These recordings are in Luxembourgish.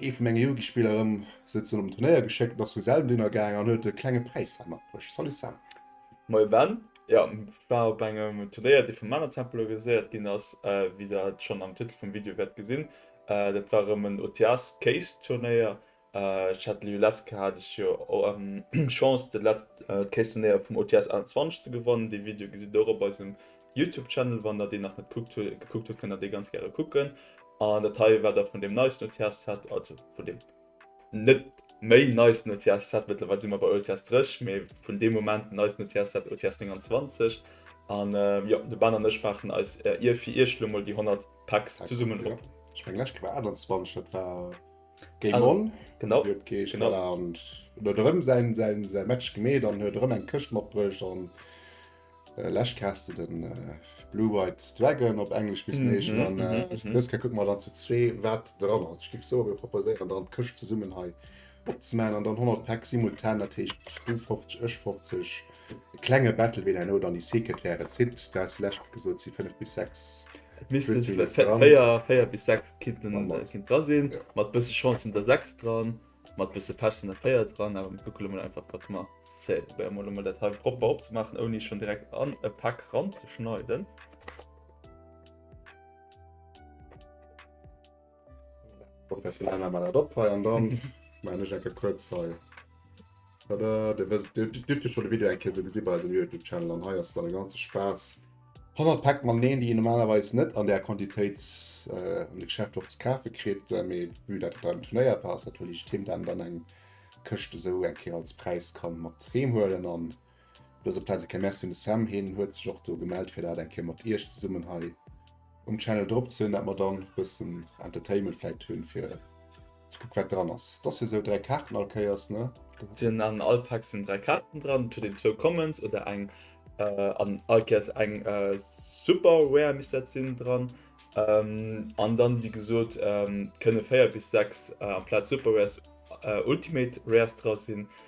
Ee vu menge Jugendspiller erëm sou zu engem Turnéier geschéckt an ass vu selwen dunner gaangen an huet e klenge Präis heem matbruecht. Salut Sam! Moie Ben, jo war op engem Turnéier dee vum Männertempel organiséiert ginn ass, wéi der et schonn am Titel vum Video wäert gesinn. Dat war erëm en OTS Case Turnéier. Ech hat jo letzt Kéier hat ech jo Chance de letzt Case Turnéier vum OTS 21 ze gewannen. Dee Video gesitt der och op eisem Youtube Channel, wann der deen nach net kuckt huet gekuckt huet, kënnt der dee ganz gäre kucken. An dat hei war da vun deem neisten OTS Set, also vun deem net méi neisten OTS Set, mëttlerweil si mer bei OTS 30, mee vun deem Moment neisten OTS Set, OTS 29. An jo, de Ben an ech maachen eis fir iech elo mol déi 100 Packs zesummen op. Ech meng lescht Kéier war 21, dat war Game On, wou et geescht huet, voilà, an en huet erëm säi Match gemeet an huet erëm eng Këscht matbruecht. Läscht kaas de den Blue White Dragon op Englesch bis neeschen an dës ka kuck mat an zu zwee wat dran ass. Skift so e proposéieren dann d'Këscht ze summen hei opzemen an dann 100 Pack simultan dat heescht du 50 ech 50 klenge Battle ween herno dann déi Secret wäre zitt. Du has läscht gesot si 5 bis 6 Missen 4 bis 6 Kitten dra sinn mat bësse Chance sinn der 6 dran. Mat bësse Pech sinn der 4 dran, awer mir kucke lo mol einfach wat mer Zäit. Probéiere mol emol dat hei propper opzemaachen, ouni schonn direkt an e Pak ranzeschneiden. Professionell hei mer dat op hei an dann maachen ech enke kuerz hei. Tada, Dir wësst, Dir hutt jo scho de Video eng Kéier do gesi bei eisem YouTube-Channel an hei ass dann e ganze Spaass. 100 Päck Magneten, déi een normalerweis net an där Quantitéit an de Geschäfter och ze kafe kritt, mee vue dat et dann tournéiert war, ass dat wuel eescht Thema, dat een dann eng Këscht esou eng Kéier als Präis ka mat heem huelen. An op dëser Plaz eng Kéier Merci un de Sam, hien huet sech och do gemellt, fir dat eng Kéier mat Iech zesummen hei um Channel drop ze hunn, dat mer dann bëssen Entertainment vläit hunn fir ze kucken wat dran ass. Dass jo sou 3 Kaarten all Kéiers ne? Sinn an all Pack sinn 3 Kaarten dran, et huet een zwou Commons oder eng an all Kéiers eng Super Rare misst dat sinn dran an dann wéi gesot kënne 4 bis 6 amplaz Super Rares Ultimate Rares dra sinn.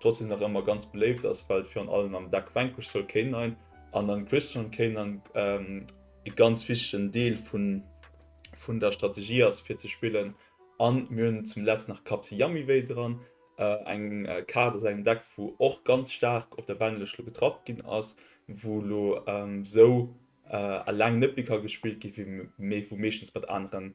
trotzdem nach ëmmer ganz beléift ass, well et virun allem am Dag Vanquish soll kéint ein an an Christian kéint an e ganz wichtegen Deel vun vun der Strategie ass fir ze spillen an mir hunn zum Letzt nach Kapsi Yamiway dran, eng Kaart aus engem Deck wou och ganz staark op der Benlëscht lo getraff ginn ass, wou lo esou alleng net méi ka gespillt gi mee wou meeschtens mat aneren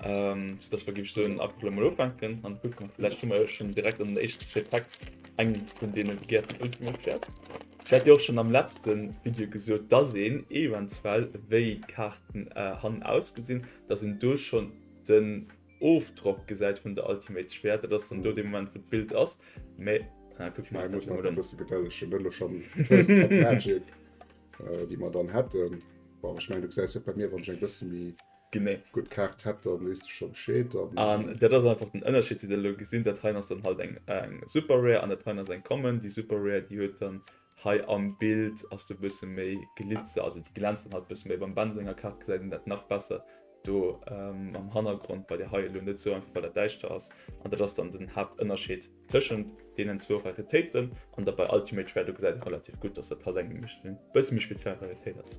Dass mer géif soen ab elo mol ufänken an kucken. Vläicht hu mer jo schonn direkt an den éischten zwee Packs eng vun deene begehrten Ultimate Cards. Ech hat jo och schonn am letzte Video gesot, dass een eventuell, wéi d'Kaarten hannen ausgesinn, dass een do schonn den Ofdrock gesäit vun der Ultimate Schwäert. Dat ass dann do dee Moment, wou d'Bild ass. Mee kucke mer eis dat emol un. Mir mussen eis nach e bësse Gedëlleg hunn. Elo schonn déi First Cut Magic, déi mer dann hätten. Bon, ech mengen, du gesäis et bei mir, wann ech eng bësse méi. Genee. Gutt Kaart hätt der, weess de scho Bescheed. An dat ass einfach den Ënnerscheed, deen der elo gesinn. Dat heien ass dann halt eng Super Rare an dat heien ass eng Common. Déi Super Rare, déi huet dann hei am Bild, ass do e bësse méi Glitzer, also déi glänzt dann halt e bësse méi. Beim Ben senger Kaart gesäit een dat nach besser do am Hannergrond, bei där hei elo net esou, einfach well dat däischter ass. An dat ass dann den Haaptënnerscheed tëschent deenen zwou Raritéiten. An da bei Ultimate Rare, do gesäit ee relativ gutt, dass dat halt eng e bësse méi speziell Raritéit ass.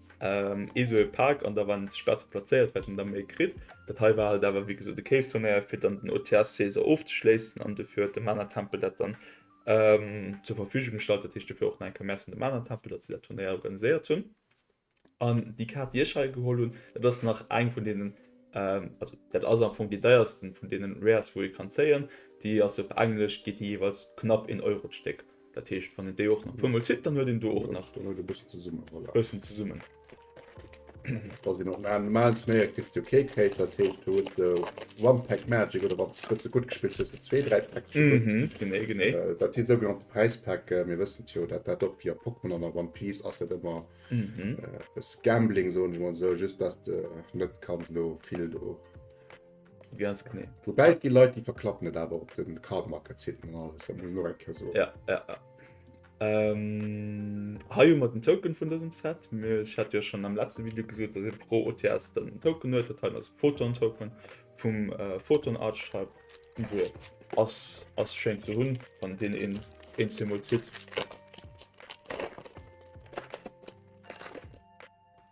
Ee sou ee Pak an da war net sech besser plazéiert wat een da méi kritt. Dat hei war halt awer wéi gesot e Case Tonnerre fir dann den OTS Seeser ofzeschléissen an dofir huet de Manatempel dat dann zur Verfügung gestallt. Dat heescht dofir och nach eng Kéier Merci un de Manatempel, datt si dat Turnéier organiséiert hunn. An déi Kaart déi ech hei geholl hunn, dat ass nach eng vun deenen, also dat ass am Fong déi deiersten vun deenen Rares wou ee kann zéien. Déi ass op Englesch geet déi jeeweils knapp een Euro d'Stéck. Dat heescht wann en déi och nach puermol zitt, dann huet een do och nach bëssen zesummen. Wa sinn op normal Turnéier kriss de jo kee Cake, dat heescht do huet de One Pack Magic oder wann s bësse gutt gespillt hues de zwee, dräi Packs vu gutt. Mhm, genee, genee. Dat si sougenannte Präispäcken. Mir wëssen et jo, dat dat och wéi a Pokémon an a One Piece ass dat ëmmer e bësse Gambling, soen ech emol esou, just datt de net kanns elo vill do. Ganz genee. Woubäi et gi Leit, déi verklappen et awer op de Card Market Siten an alles, dat muss een och eng Kéier soen. Ja, ja, ja. Ähm, hei hu mer den Token vun dësem Set. Mir, ech hat jo schonn am letzte Video gesot, datt ee pro OTS dann en Token huet. Dat hei ass Photon Token vum äh, Photon Archetype. Niveau ass ass schéin ze hunn, wann deen een een zemol zitt.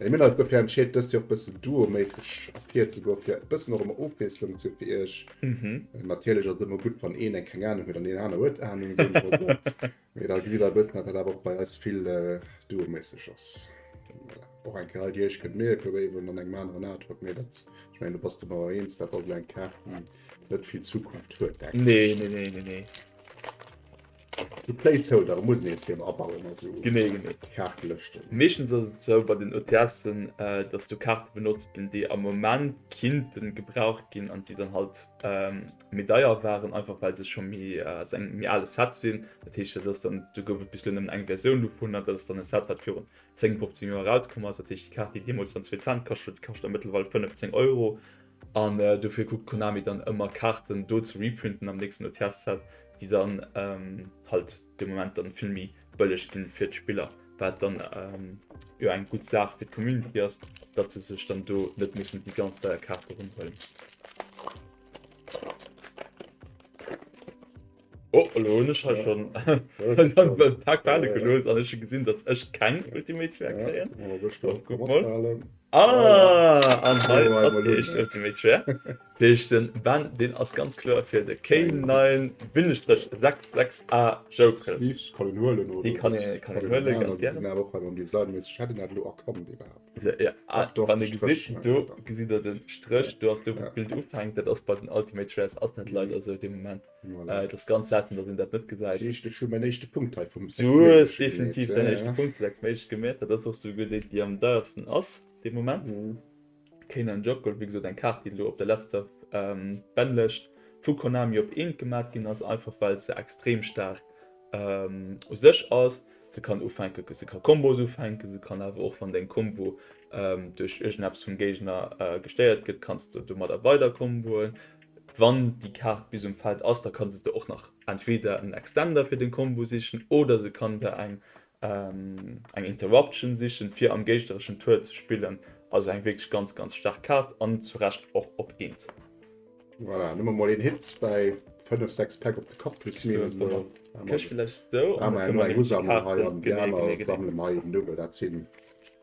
Mir hunn eis dofir entscheet dëst Joer och bëssen duoméisseg ervir ze goen, fir bëssen och emmer Ofwiesslung ze fir iech. Natierlech ass et ëmmer gutt wann een eng keng Ahnung huet an deen aner huet Ahnung esou mol esou. Mee da gesitt der e bëssen dat dat awer och bei eis vill duoméisseg ass. Och eng Kéier hei déi iech kënnt mierken wéi eben an engem aneren Artwork mee dat, ech mengen do bass de mer och eens, dat ass elo eng Kaart déi net vill Zukunft huet denken ech. Nee, nee, nee, nee, nee. De Play zou, da muss een nees hei abauen a sou Kaarte lëschten. Meeschtens ass et sou bei den OTS'en, dass do Kaarte benotzt ginn, déi am Moment kinnten gebraucht ginn an déi dann halt méi deier waren, einfach well se scho méi aus engem méi ale Set sinn. Dat heescht, dat ass dann, do gouf et bis elo nëmmen eng Versioun dovun an dat ass dann e Set, wat virun 10, 15 Joer erauskomm ass. Dat heescht, déi Kaart, déi deemools dann zwee Cent kascht huet, kascht dann mëttlerweil 15 Euro. An dofir kuckt Konami dann ëmmer Kaarten do ze reprinten am nächsten OTS-Set, déi dann halt de Moment dann vill méi bëlleg ginn fir d'Spiller, wat dann jo eng gutt Saach fir d'Community ass, datt se sech dann do net mussen déi ganz deier Kaarte ronn huelen. Oh, lo hun ech hei schon en paar Qualen gelost an ech hun gesin dass ech keng Ultimate Sphär kréien. Ah an hei ass déi éischt Ultimate Sphär. Déi heescht den Ben deen ass ganz kloer fir de K9-66A Joker. Déi kann een huelen ganz gär. Wann ee gesitt do gesitt der den Stréch do ass do wou d'Bild ufänkt dat ass bei den Ultimate Sphärs ass dat leider sou dee Moment. Voilà. Äh, das ganz selten, dass een dat net gesäit. Eescht ech hun mäin éischte Punkt hei vum Sex. Du hues definitiv ja, den ja. éischte Punkt Sex méiglech gemet, dat ass och so guer déi, déi am deiersten ass de Moment. Mhm. Kane an Jockel, wéi gesot eng Kaart, déi lo op der letzter ähm, Bennlecht vu Konami op eent gemat ginn ass, einfach well se extrem stark ähm, u sech ass. Se kann ufänken, se kann Kombos ufänken, se kann awer och wann deng Kombo ähm, duerch irgendeps vum Géigner äh, gestéiert gëtt, kannst du domat weider komboen. Wann déi Kaart bis um Feld ass, da kann se der och nach entweder en Extender fir den Combo sichen oder se kann der eng eng Interruption sichen fir am géignereschen Tour ze spillen. Also eng wierklech ganz ganz staark Kaart an zu Recht och op Eent. Voilà, nëmme mol een Hit bäi 5, 6 Päck op de Kapp kritt. Ech meen elo eng Hu sammelen hei an déi aner sammelen hei eben do, well dat sinn.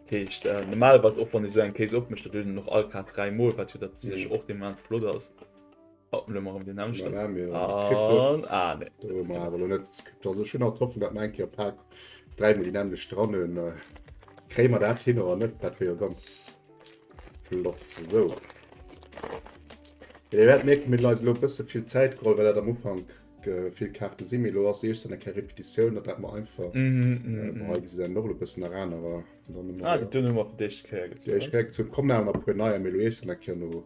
Dat heescht, normalerweis, och wann ee sou eng Case opmécht, dat huet een och all grad dräi Mol, wat jo dat sech och dee Moment flott ass. Oh, elo mach ëm deen aneschten. Ah, nee. Ah, nee. Do hu mer awer elo net gescriptet. Also ech hunn alt d'Hoffnung, datt mer eng Kéier Pak dräi Mol déi nämmlecht dran hunn. Kréie mer dat hin oder net? Dat wier jo ganz flott. Sou. Wéi Dir wäert mierken, huet eis elo e bësse vill Zäit geholl, well dat am Ufank Vill Kaarte si mir lo ass eescht an der Kä Repetitioun, dat dat mer einfach hei gesi en Norde bëssen nach anerer. Dunn hu mer op d'éischt Kéier gezunn. Komm nach mat puer neier méi lo eescht an der Kä no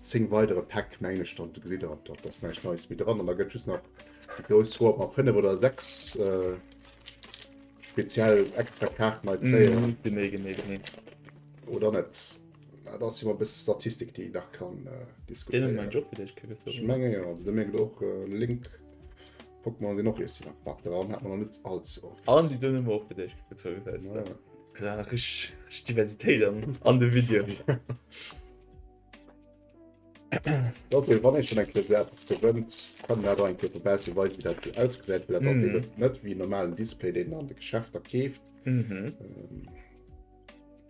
10 weidere Päck mengen ech dann. Do gesitt der op dat ass näischt Neies méi dran an da gëtt just nach déi grouss Roll mat 5 oder 6 speziell extra Kaarten hei kréien. Genee, genee, genee. Oder net? Ah, da si mer bis Statistik, déi nach kann äh, diskutéieren. Ech menge jo, also, mé och äh, Link Pokémon sinn och si nach Bak dran, hat man net als och. An déi dunne och fir Dich gezo se. Ja, rich Diversitéit an, an de Video. Dat wann ech schon eng Klärt gewënnt, kann dat eng Kette besser wei wie dat ausgesät, mhm. net wie normalen Display, den an de Geschäfter keeft. Mhm. Ähm,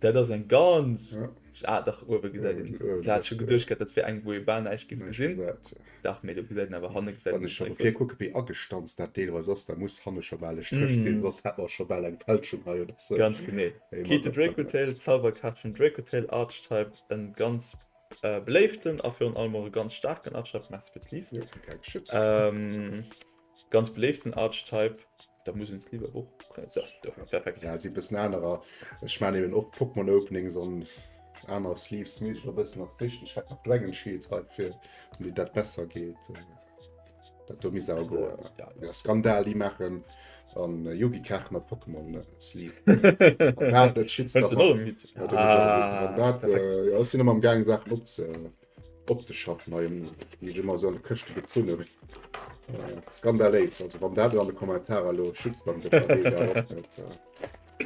Dat ass eng ganz. Ah dach, uewe gesäit een se. Ech hat scho geduecht gehat, dat wär eng, wou ee bal näischt géif gesinn. Dach, mee do gesäit een awer hanne. Wann ech scho vu vir kucke wéi agestanzt dat deelweis ass, da muss hanne scho bal e Stréch drin, soss hätt mer scho bal eng Fälschung hei oder sou. Ganz genee. Key to Drakehotel, D'Zauberkaart vum Drakehotel Archetype, e ganz beléiften a virun allem och e ganz staarken Archetype. Merci fir d'Lift. Ganz beléiften Archetype. Da muss uns lieber och so, do, ja, perfekt. Ja, si bëssen anerer. Ech man eben och Pokémon Openings an aner Sleeves mis a bëssen nach sichten. Ech hat nach Dragon Shields hei fir um déi dat besser geet. Äh, dat do mis awer go. Ja, ja. Skandal déi machen an äh, Yugi Kach mat Pokémon äh, Sleeve. dat dat schiet Fällt nach den an. allem mit. Ja, dat, äh, ja, sinn am gang Sachen op ze. opzeschaffen. Hei gi ech ëmmer sou an de Këschte gezunnen. Skandaléis, also wann dat an de Kommentarer elo Shitstorm gëtt, da weess awer och net.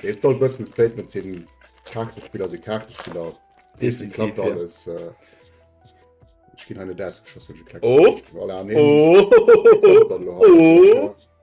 Et soll e bëssen e Statement sinn, Kaartespiller si Kaartespiller, deem seng Klapp a alles. Ech ginn hei net ausgeschoss, wann ech e kleng Problem hunn. Voilà, nee, et kënnt dann elo haut.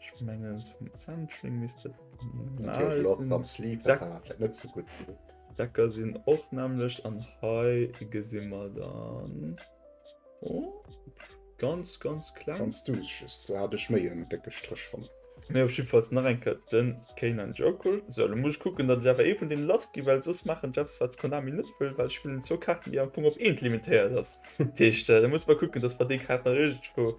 Ech mengen zum Zentring misst et normal Loch sinn. am Sleeve Da- war dat net so gut. Decker sinn och nämlecht an hei gesi mer dann oh, ganz ganz kleng. Ganz duuss just, do hat ech méi en décke Stréch ran. Mee op jiddefalls nach eng Kéier den Keynan Jokel. Sou, elo muss ech kucken, datt ech awer ee vun deene lass ginn, well soss maachen ech eppes wat Konami net wëll, well ech spillen zwou Kaarten déi am Fong op eent limitéiert ass. Dat heescht, da muss mer kucken, datt mer déi Kaart nach iergendwou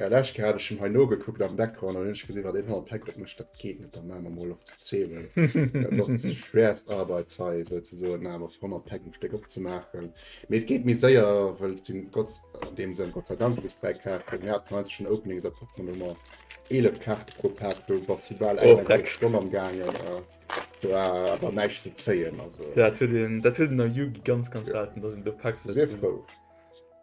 Ja, lech hat ech hei no gekuckt am Background an ech gesinn wat een hei Päck op mech dat geet net da man man mol op ze zeelen. schwerst Arbeit hei se ze soen na mat 100 Päck um Steck op ze maachen. Meet geet méi séier well sinn Gott an deem Sënn Gott sei Dank bis dräi Kaart mir hat mei schon Opening se op man ëmmer 11 Kaart pro Pack do was du bal eng eng halb Stonn am gaangen. Do war awer näischt ze zéien also. Ja dat huet een dat huet een a Yugi ganz ganz selten, datt een do Päck sou.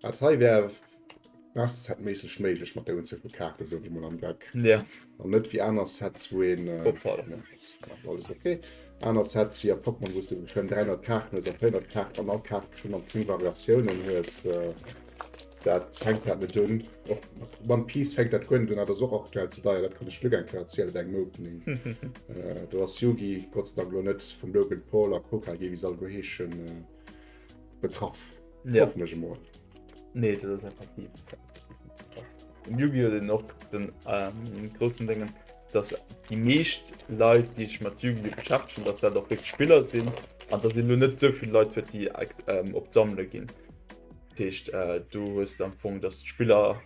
Dat hei wär Master-Set-méisseg méiglech mat der Unzuel vu Kaarten, soen ech mol, am Deck. Ja. An net wéi aner Sets, wou een. Opfall. Nee, ass nach alles ok. Aner Sets, wéi a Pokémon, wou s de geschwënn 300 Kaarten hues, a 400 Kaarten an all Kaart bestinn an 10 Variatiounen hues. Dat fänkt dat net un. Och mat One Piece fänkt dat guer net un. Dat ass och aktuell ze deier, dat kann ech lech elo eng Kéier erzielen, dat ass engem Opening. Do ass Yu-Gi, Gott sei Dank, elo net vum Logan Paul a Hokage, wéi se all guer heeschen. betraff. Ja. Hoffnech emol. Nee, dat ass einfach nie. Den Yu-Gi-Oh! den och den ähm, großen Dingen, dass die meescht Leute, die sich mit Yu-Gi-Oh! beschäftigen, dass dat auch wirklich Spieler sind an dass lo net so viele Leute huet, die ähm, op d'Sammle ginn. Techt äh, du hues am Fong, dass d'Spiller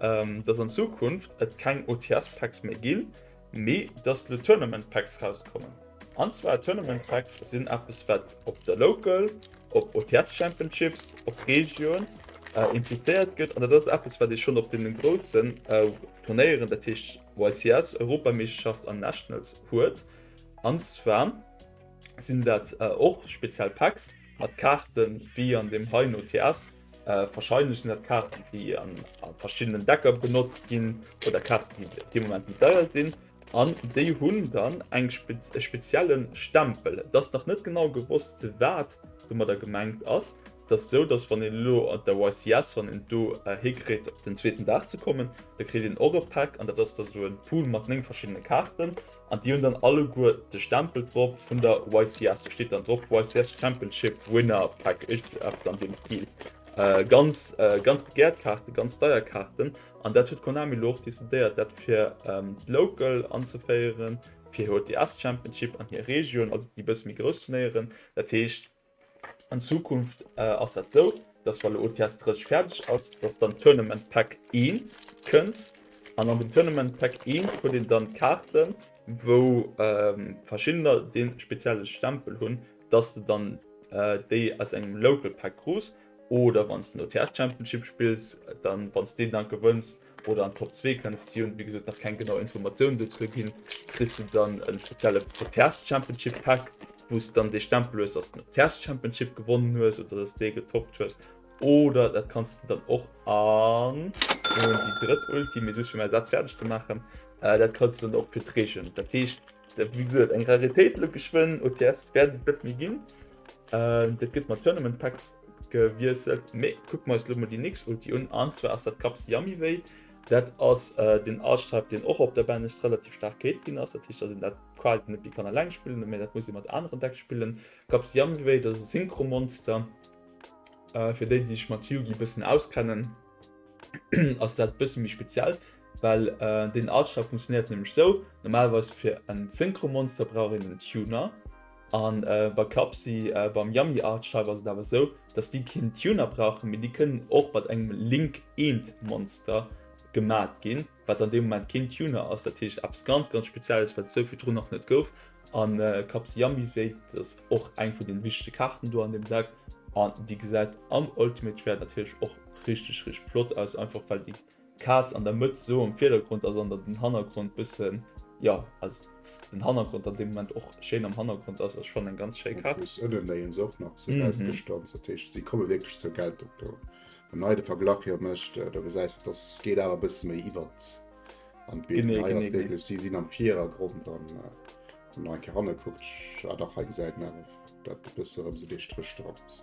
ähm, dass an Zukunft et keng OTS-Packs méi ginn, mee dass lo Tournament-Packs rauskommen. An zwar Tournament-Packs sinn eppes, wat op der Local, op OTS-Championships, op Region äh, impliziert gëtt. An dat ass eppes, wat ee schonn op deenen groussen äh, Turnéieren, dat heescht YCS, Europameeschterschaft an Nationals huet. An zwar sinn dat äh, och speziell Packs mat Kaarten, wéi an dem heien OTS, Wahrscheinlech sinn dat Kaarten, déi a verschiddenen Decker benotzt ginn, oder Kaarten, déi op dee Moment méi deier sinn. An déi hunn dann e spezielle Stempel. Et ass nach net genau gewosst, wat domadder gemengt ass. Et ass esou, datt, wann een elo op der YCS, wann een do hikritt, op den zweeten Dag ze kommen, da kritt een och e Pack. An dat ass da sou e Pool mat néng verschiddene Kaarten. An déi hunn dann alleguer de Stempel drop vun der YCS. Do steet dann drop YCS Championship Winner Pack, iergendeppes an deem Stil. Ganz, ganz begäert Kaarten, ganz deier Kaarten. An dat huet Konami elo och decidéiert, dat fir d'Local anzeféieren, fir HTS Championship an hir Region, also déi e bësse méi grouss Turnéieren. Dat heescht, An Zukunft ass dat sou, dass wann de OTS 30 fäerdeg ass, dass dann d'Tournament Pack 1 kënnt. An an dem Tournament Pack 1 krut een dann Kaarten, wou verschiddener dee spezielle Stempel hunn, dass de dann déi aus engem Local Pack krus oder wann s de den OTS Championship spills, dann wann s deen dann gewënns, oder an d'Top 2 kënns. Si hunn, wéi gesot, nach keng genau Informatiounen dozou ginn. Kriss de dann e spezielle Proteas Championship Pack, wou s de dann dee Stempel hues, dass de Proteas Championship gewonnen hues oder dass dee getoppt hues. Oder dat kanns de dann och an, elo hunn ech déi drëtt Ulti, mee just fir mäi Saz fäerdeg ze maachen, dat kanns de dann och fir d'Region. Dat heescht, wéi gesot, eng Raritéit elo geschwënn, OTS wäert et net méi ginn. Dat gëtt mat Tournament Packs gewiesselt. Mee kuck mer eis elo mol déi nächst Ulti un. An zwar ass dat Kaps Yummy Way. Dat ass den Archetype, deen och op der Banlist relativ staark gehéilt ginn ass. Dat heescht, dass een dat quasi net méi kann eleng spillen, mee dat muss ee mat aneren Decks spillen. Kaps Yummy Way, dat ass e Synchro-Monster. Fir déi, déi sech mat Yu-Gi e bëssen auskennen, ass dat e bësse méi speziell, well deen Archetype funktionéiert nämlech esou, Normalerweis fir e Synchro-Monster brauch een en Tuner. An bei Clubsy, beim Yummy Art Shop ass et awer esou, dass déi keen Tuner brauchen, mee déi kënnen och mat engem Link Eent Monster gemat ginn, wat an deem Moment keen Tuner ass. Dat heescht eppes ganz, ganz Spezielles, wat esou virdrun nach net gouf. An Clubsy Yummy Wave, dat ass och eng vun den wichtege Kaarten do an deem Deck, an déi gesäit am Ultimate Rare natierlech och richteg, richteg flott aus, einfach well déi D'Kaz an der Mëtt sou am Virdergrond ass an der den Hannergrond bëssen, jo also den Hannergrond an deem Moment och schéin am Hannergrond ass, ass schonn eng ganz schéi Kaz. En plus ënnenéihen se och nach sou aus der Stanz, dat heescht si komme wierklech zur Geltung do. Wann den hei de Verglach jo mécht, do gesäis de dass geet awer e bësse méi iwwert an d'Bild. Genee, genee, genee. Si sinn am Virergrond an wann der eng Kéier hanne kuckt, ah dach hei gesäit een awer dat e bësse erëm sou dee Stréch drop ass.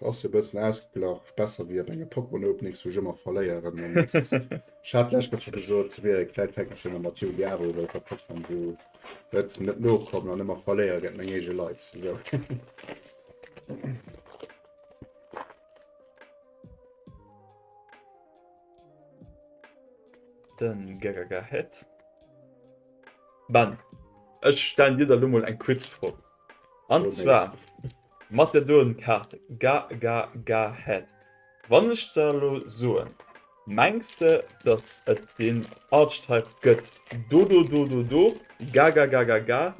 Ass jo bessen ausgeglach, besser wéi op engem Pokémon Openings wou ech ëmmer verléieren an nix ass. Ech hat lech gëschter gesot se wier e kläit Fänkerchen am Mathieu Diabo wou ech op Pokémon Go net net nokommen an ëmmer verléiere géint meng eege Leit sou. Den Gagaga Head. Ben, ech stellen dir der lo mol eng quiz Fro. An zwar mat der Duelenkaart Ga Ga Ga Head. Wann ech der elo soen, mengs de dass et deen Archetype gëtt Do Do Do Do Do Ga Ga Ga Ga Ga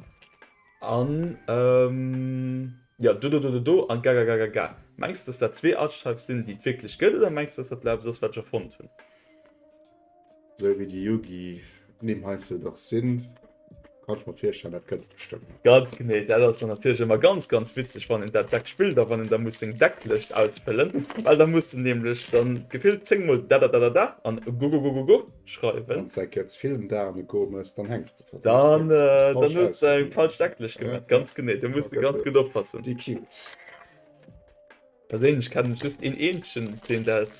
an jo Do Do Do Do Do an Ga Ga Ga Ga Ga. Mengs de dass dat zwee Archetypes sinn déi et wierklech gëtt oder mengs de dass dat elo eppes ass wat ech erfonnt hunn? Sou wéi déi Yugi Nimm heiansdo dach sinn, kann ech mer virstellen, dat kënnt bestëmmt nach. Ganz genee, dat ass dann natierlech ëmmer ganz, ganz witzeg, wann een dat Deck spillt a wann een da muss seng Decklécht ausfëllen, well da muss en nämlech da gefillt zéng Mol dadadadada an gogogogogo schreiwen. Wann s de eng Kéier ze vill ëm Dagen goe muss, dann hänks de verdéngt Deck falsch aus. Dann hues de eng falsch Decklécht gemat, ganz genee, do muss de ganz gutt oppassen. Déi Cubes. Perséinlech kennen ech just een eenzegen deen dat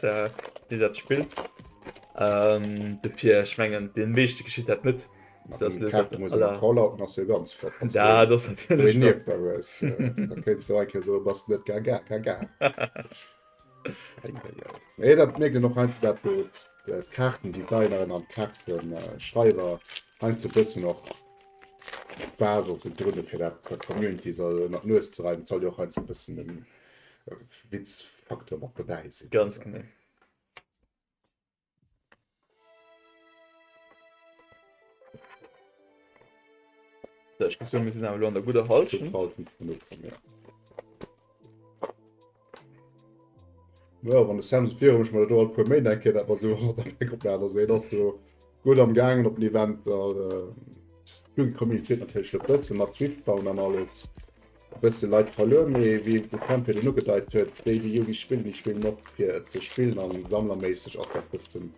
deen dat spillt de Pierre, ech mengen dee meeschte geschitt dat net. Mee dat mierkt een och heiansdo dat wou d'Kaartendesignerin an d'Kaartenschreiwer heiansdo e bëssen och. D'Base ass jo drënne fir dat der Community se ënner d'Nues ze reiwen. Et soll jo och heiansdo e bëssen e Witzfacteur mat dobäi sinn. Ganz genau. Sou, ech muss soen, mir sinn awer elo an der gudder Hallschent. Gutt Hallschent vun Ufank, jo. Ja, wann de Samson virun mech mat do alt puer Méint eng Kéier dat mat do mat der Bäck oplaat, also hien ass do gutt am gaangen op den Eventer. Gutt déi Communitéit natierlech e bësse mat Swift bauen an alles. E bësse Leit verluer, mee wéi de Sam virun ugedeit huet, déi déi Yugi spillen, déi spillen och fir et ze spillen a sammlerméisseg ass dat bëssen,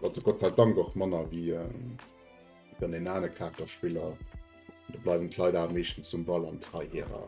also Gott sei Dank, och manner wéi dann een anere Kaarterspiller. Do bleiwen d'Leit awer meeschtens zum Ball an d'Heiheerer.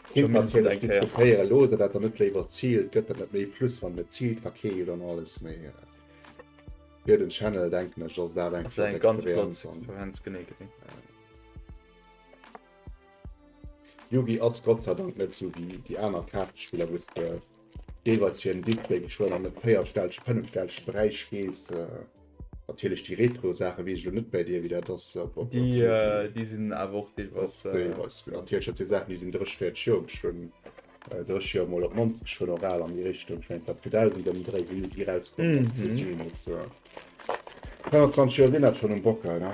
Kint natierlech diskutéieren loossen, dat der net léiwer ziilt, gëtt der net méi plus wann et ziilt, verkeelt an alles, mee fir den Channel denken ech ass dat eng flott Experienz. Yugi ass Gott sei Dank net sou wéi déi aner Kaartespiller, wou s de Jeeweils fir en Dipp, wéini scho an e véierstellege, fënnefstellege Beräich gees. Natierlech déi retro Saache weess ech elo net bäi dir, wéi dat ass. Déi sinn awer och deelweis. Deelweis, natierlech. Dat si Saachen, déi sinn 30, 40 Joer alt, schon 30 Joer, mol op d'mannst schon och al an déi Richtung. Ech mengen, d'Lapke Dell, déi dem Dre Hill si rauskomm ass 25 Joer sinn dat schon um Bockel, ne?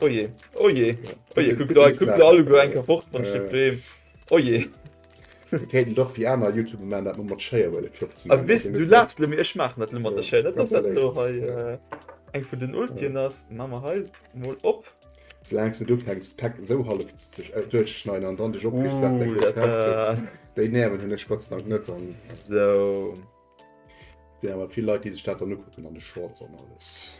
Oh je, oh je, oh je, kuck do, kuck do alleguer eng Kéier fort mam Stéck Breem. Oh je. Mir kéinten dach wéi aner Youtuber maachen, dat mer mat Schéier wëlle klopp ze A maachen. wis, du laachs lo, mee ech maachen dat elo mat der Schéier. Dat ass dat do hei, eng vun den Ultien ass. Maa mer hei mol op. Soulaangs de ufänks d'Päck esou hallef ze duerchzeschneiden an dann dech opriicht, wat da grad kacht gëtt. Déi Nerven hunn ech Gott sei Dank net. Sou. Sinn awer vill Leit déi sech dat dann ukucken an de Shorts an alles.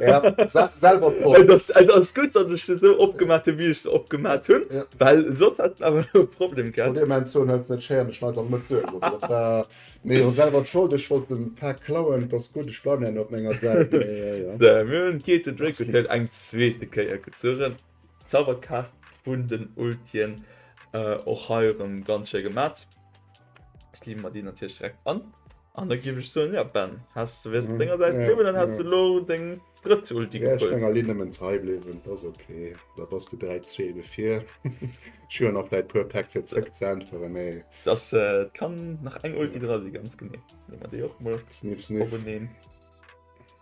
Ja, se- selber Äh, Propp. das, äh, das gut, dass ich se so opgemat hun, wéi ech se opgemat hun, Ja. well soss hätt en awer lo e Problem An gehat. deem Moment soen, Hëlz net schéier, ech schneiden an d'Mëtt duerch. Also dat war, mee jo selwer d'Schold, ech wollt den Fact klauen, et ass gutt, ech bleiwen awer op menger Säit. Mee, äh, ja. So, mir hunn d'Gate Drake Hotel eng zweete Kéier gezuerent. Zauberkaart vun den Ultien och hei erem ganz schéi gemat. Jetzt leeën mer déi natierlech direkt an. An da giff ech soen, ja Ben, häss du, wäers du op denger Säit bliwwen, dann häss du elo deng drëtt Ulti gekrut. Wäer ech menger Linn nëmmen trei bliwwen, et ass ok. Da bass du 3, 2 ebe vir. Ech hu jo nach däi puer Päck fir zrëck ze äntweren, mee. Dass et kann nach eng Ulti dra si, ganz genee. Leeë mer déi och mol. Sniff, sniff. Openeen.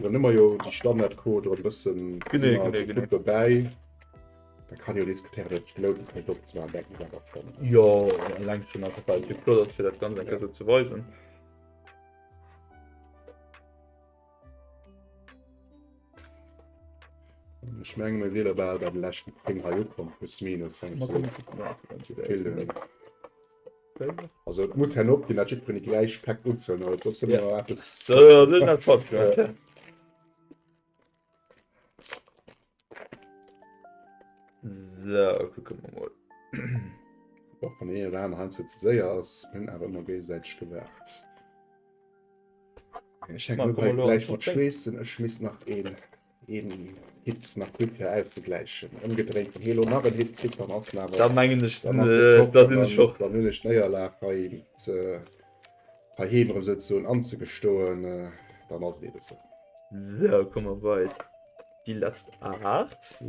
Da nëmmer jo déi Standardcode oder bëssen dobäi. Da kann jo dees Kriär net louden, fir do ze maachen, dat muss einfach kommen. Jo, eleng schonn einfach, well et jo flott ass, fir dat Ganzt eng Kéier esou ze weisen. Ech menge mir si lo bal bei de leschten Ding hei ukomm, plus minus. Mä kommen, kucke mer. Also et muss herno opginn, dat jitt wéini gläich Päck unzuelen huet, soss hu mer eppes. Sou, kucke mer mol. Och wann deen een oder aneren heiansdo ze séier ass, hunn awer ëmmer géigesäiteg gewaart. Ech hänken elo gläich mat Schweessen, ech schmiss nach een. een Hit nach kritt fir auszegläichen. Ëmgedréinten Helo nach en Hit kritt, dann ass en awer, da mengen ech, dann ass se fort, dann hunn ech d'Néierlag hei heiheem erëm souzesoen anzegestoen, dann ass et eeben esou. Sou, komme mer bei déi letzt 8.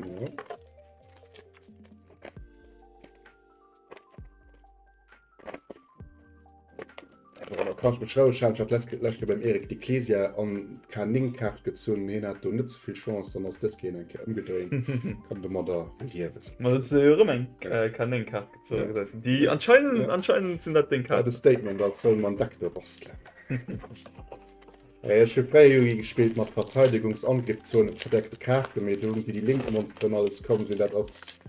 Kach mat Schrauwe schaffen. Ech hat letzt- lescht Joer beim Eric di Clesia an d'K9-Kaart gezunn. Hien hat do net ze vill Chance, dann ass dëst Keen eng Kéier ëmgedréint. Kann de mat a liewen. Ma hues de jo erëm eng K9-Kaart gezunn, gëtt eis déi. Anscheinend, anscheinend sinn dat deng Kaarten. Wat e Statement, als solle mer en Deck do bastelen. Ech hu fréier Yugi gespillt mat Verteidegungs-Angriffszone verdeckte Kaarten, mee do hunn déi, déi lénks ëm ons dran alles komm sinn. Dat ass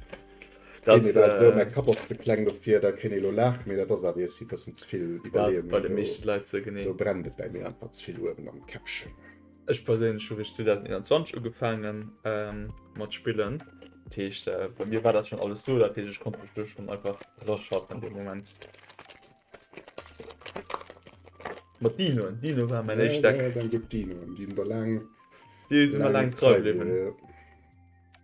Ech perséinlech hu rich 2021 ugefaange mat spillen, dat heescht bei mir war dat schonn alles do, dat heescht ech konnt mech do schonn einfach raschaffen dee Moment. Mat Dinoen, Dino war mäin éischt Deck, deene si mer laang trei bliwwen.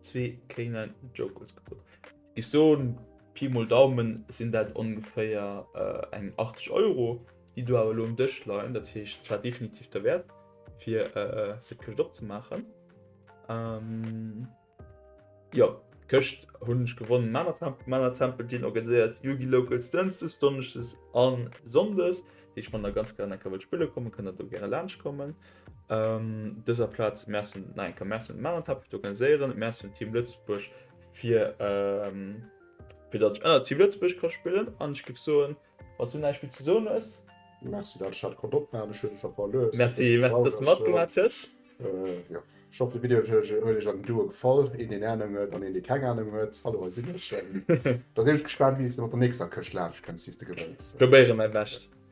Zwee K9 Jokers geholl. Ich so Pi mol Daumen sinn dat ongeféier äh, eng 80 Euro, déi du awer lo um Dësch leien. Dat heescht war definitiv der Wert fir äh, se Këscht opzemaachen. Ähm, ja, Këscht hunn ech gewonnen. Männer Tempel dien organiséiert Yugi Locals Dënzes, Donneschdes an Sonndes. Deech wann der ganz gern enker wëllt spille kommen, kënnt der do gäre laanscht kommen. Um dëser Plaz Merci no enker Merci un Marenthal fir d'Organiséieren, Merci un Team Lëtzebuerg fir fir datt ech ënner Team Lëtzebuerg ka spillen an ech géif soen, wann s du näischt méi ze soen hues. Merci dat ech dat konnt opnamen, ech hunn zwar verluer, ech si e bësse traureg. Merci datt s de matgemaach hues. Jo, ech hoffen de Video huet iech an den Duo gefall, een deen Anung huet an een dee keng Anung huet, hallo hei sinn ech. Da sinn ech gespaant wéi s de mat der nächster Këscht laanscht kënns, déi s de gewënns. Probéiere mäi Bescht.